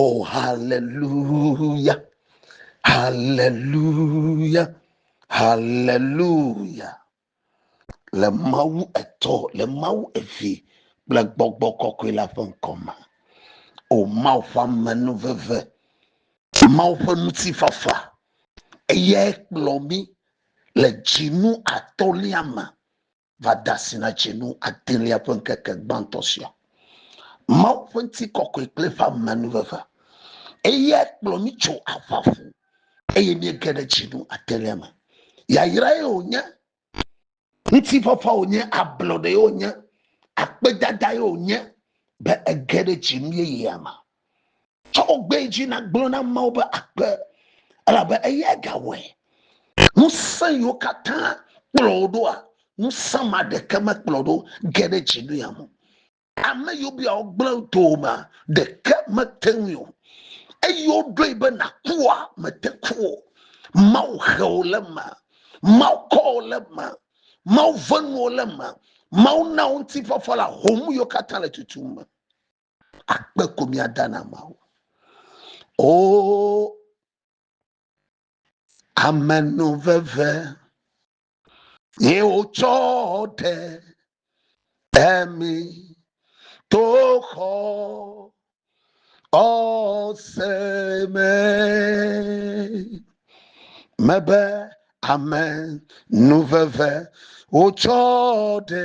Oh, hallelujah, hallelujah, hallelujah. Le Mawu etɔ, le Mawu evi kple gbɔgbɔ kɔkɔe la ƒe ŋkɔ me. O oh, Mawu ƒe amenu veve, Mawu ƒe ŋutifafa, eyae kplɔ mi le dzinu atɔlia me. va de asi na dzinu adelia ƒe ŋkeke gbãtɔ sia. Mawu ƒe ŋutikɔkɔe kple eƒe amenuveve. Eyae kplɔ mí tso aʋa ƒu eye míege ɖe dzinu adelia me. Yayrae wònye, ŋutifafa wònye, ablɔɖee wònye, akpedadae wònye be ege ɖe dzinu yeyea me. Tsɔ wo gbee dzi na gblɔ na Mawu be akpe, elabe eyae gawɔe. Ŋusẽ yiwo katã kplɔ wo ɖoa, ŋusẽ ma ɖeke mekplɔ ɖo ge ɖe dzi nu yame o. Ame yiwo bia wo gblẽ domea, ɖeke mete ŋui o. Eyi woɖoe be nàkua, mète ku o. Mawu he wò le eme. Mawu kɔ wò le eme. Mawu ve nuwò le eme. Mawu na wò ŋutifafa le ahom yiwo katã le tutum me. akpe ko míada na Mawu. O amenuveve ye wotsɔ ɖe emi to xɔ ɔse me mebe amenuveve wotsɔ ɖe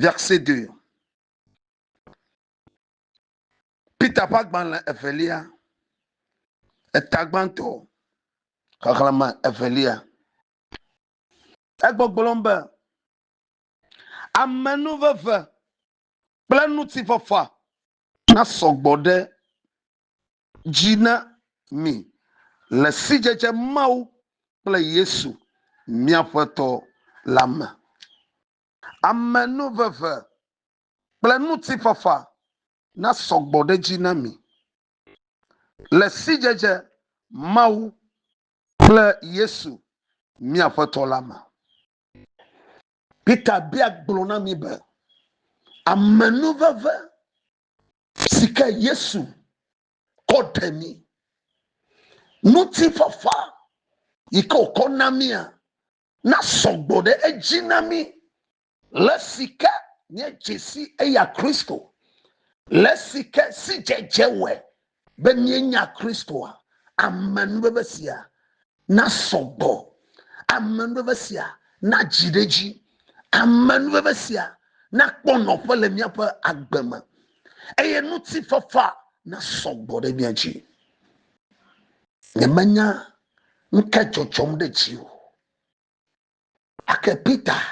Verset 2. Peter ƒe agbalẽ evelia, eta gbãtɔ, xexlẽme evelia. Egbɔgblɔm be, Amenuveve kple ŋutifafa nasɔ gbɔ ɖe dzi na mi le sidzedze Mawu kple Yesu mía Aƒetɔ la me. Amenuveve kple ŋutifafa nasɔ gbɔ ɖe edzi na mi le sidzedze Mawu kple Yesu mía Aƒetɔ la me. Peter bia gblɔ na mí be, Amenuveve si ke Yesu kɔ ɖe mí, ŋutifafa yi ke wòkɔ na mía, nasɔ gbɔ ɖe edzi na mí. Le si ke nye dzesi eya Kristo, le si ke sidzedze wɔe be míenya Kristoa, amenuveve sia nasɔ gbɔ, amenuveve sia nadzi ɖe edzi, amenuveve sia nakpɔ nɔƒe le míaƒe agbe me, eye ŋutifafa nasɔ gbɔ ɖe mía dzi. Nyemenya Nuka dzɔdzɔm ɖe dziwò? Ake Peter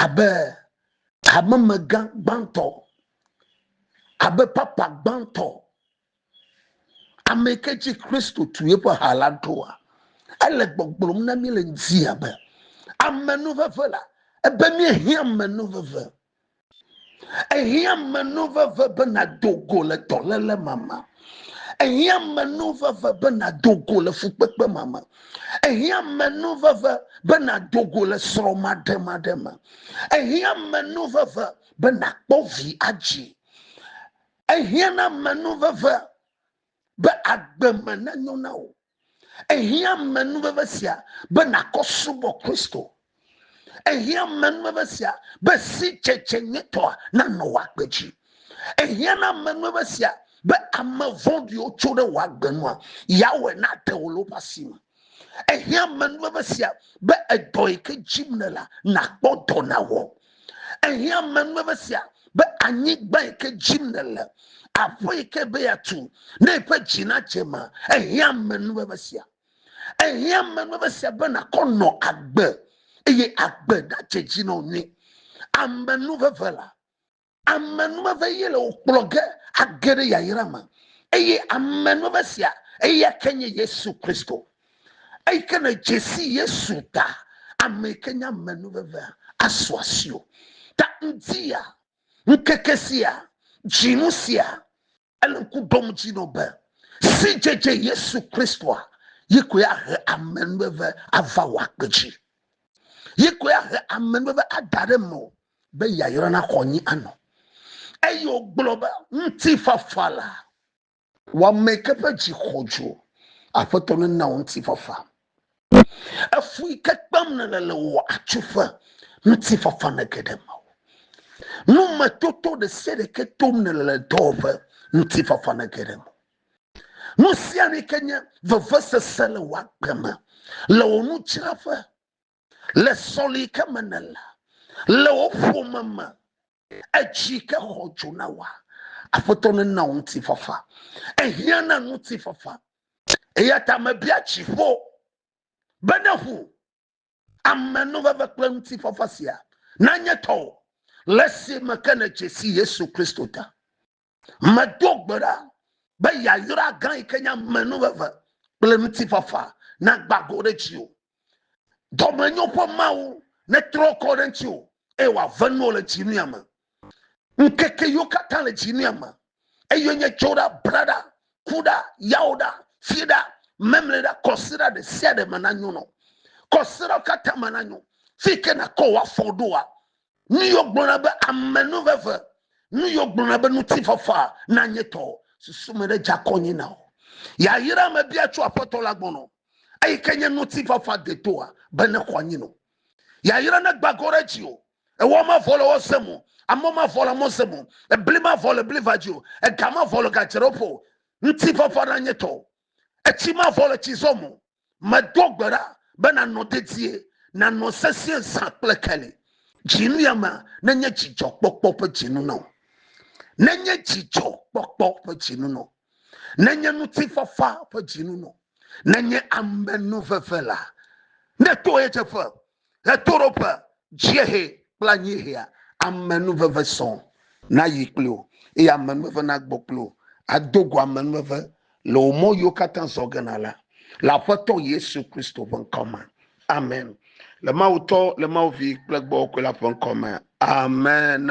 abe hamemegã gbãtɔ, abe papa gbãtɔ, ame ke dzi Kristo tu yeƒe ha la ɖoa, ele gbɔgblɔm na mí le ŋdi abe amenuveve la, ebe míehiã amenuveve. Ehiã menu veve be nàdo go le dɔléle ma me. Ehiã menu veve be nàdo go le fukpekpe ma me. Ehiã menu veve be nàdo go le srɔ̃ maɖemaɖe me. Ehiã menu veve be nàkpɔ vi adzi. Ehiã na menu veve be agbe me nanyo na wò. Ehiã menuveve sia be nàkɔ subɔ Kristo. Ehiã menuveve sia be sidzedze nyuitɔa nanɔ wò agbe dzi. Ehiã na menuveve sia be ame vɔ̃ɖiwo tso ɖe wò agbe nua, yeawɔe nade wò le woƒe asi me. Ehiã menuveve sia be edɔ yi ke dzim nèlea, nàkpɔ dɔ nàwɔ. Ehiã ame nue be sia be anyigba yi ke dzi nèle, aƒe yi ke be yeatu ne eƒe dzi nadze ma, ehiã ame nue be sia. Ehiã ame nue be sia be nàkɔ nɔ agbe eye agbe nadze dzi nɔ nyui. Ame nu veve la, ame nu veve ye le wò kplɔ ge age ɖe yayra me eye ame nu veve sia eya ke nye Yesu Kristo. Eyi ke ne dzesi Yesu ta ame yi ke nye ame nu veve asu asi o. Ta ŋdi ya ŋkeke sia dzinu sia ele ŋku ɖom dzi nɔ be sidzedze Yesu Kristoa yi koe ahe ame nu veve ava wò akpe dzi. Yi koe ahe ame nu veve ada ɖe me o be yayra na xɔ anyi anɔ. Eye wògblɔ be ŋutifafa la Wò ame ke ƒe dzi xɔdzo, Aƒetɔ nena wò ŋutifafa. Efui ke kpem nèle le wò atsuƒe, Ŋutifafa nege ɖe mewò. Nu me toto ɖesiaɖe ke tom nèle le dɔwɔƒe, Ŋutifafa nege ɖe mewò. Nusianui ke nye vevesese le wò agbe me, Le wò nudzraƒe. Le sɔli ke me ne la, le wo ƒome me, edzi ke xɔ dzo na wa. Aƒetɔ ne na ŋuti fafa. Ehiã na ŋuti fafa. Eya ta me bia dziƒo be ne ŋu amenuveve kple ŋuti fafa sia na nye tɔwo le si me ke ne dzesi Yesu Kristo ta. Medo gbe ɖa be yayra gã yi ke nye amenuveve kple ŋutifafa nagbã go ɖe dziwò. Dɔmenyo ƒe Mawu netrɔ kɔ ɖe ŋutiwò eye wòave nuwò le dzinuya me. Ŋkeke yiwo katã le dzinuya me, eye nye tso ɖa, bla ɖa, ku ɖa, yawo ɖa, fi ɖa, memli ɖa, kɔsiɖa ɖe sia ɖe me nanyo nɔ. Kɔsiɖawo katã me nanyo. Fi yi ke nàkɔ wò afɔ ɖoa, Nu yɔ gblɔna be amenu veve, nu yɔ gblɔna be ŋutifafa na nye tɔ, susu me ɖe dza kɔnye na o. Yayra me bia tso Aƒetɔ la gbɔ nɔ, eyi ke nye ŋutifafa detoa be ne xɔ anyi nɔ. Yayra ne gbagɔ ɖe dzi o, ewɔ ma vɔ le wɔ se mo, amɔ ma vɔ le amɔ se mo, ebli ma vɔ le bli va dzi o, ega ma vɔ le ga dzeɖoƒe o. Ŋutifafa na nye tɔ, Etsi mavɔ le tsi zɔm o. Medo gbe ɖa be nànɔ dedie, nànɔ sesĩe zã kple keli. Dziŋliamea nenye dzidzɔkpɔkpɔ ƒe dzinu na wò. Nenye dzidzɔkpɔkpɔ ƒe dzinu na wò. Nenye ŋutifafa ƒe dzinu na wò. Nenye amenuveve la, neto ɣedzeƒe Ɣetoɖoƒe, dziehe kple anyiehea, amenuveve sɔ nayi kpli wò, eye amenuveve nagbɔ kpli wò ado go amenuveve le wò mɔ yiwo katã zɔ ge na la, le Aƒetɔ Yesu Kristo ƒe ŋkɔ me. Amen. Le Mawu Tɔ, le Mawu Vi kple Gbɔgbɔ Kɔkɔe la ƒe ŋkɔ me. Amen.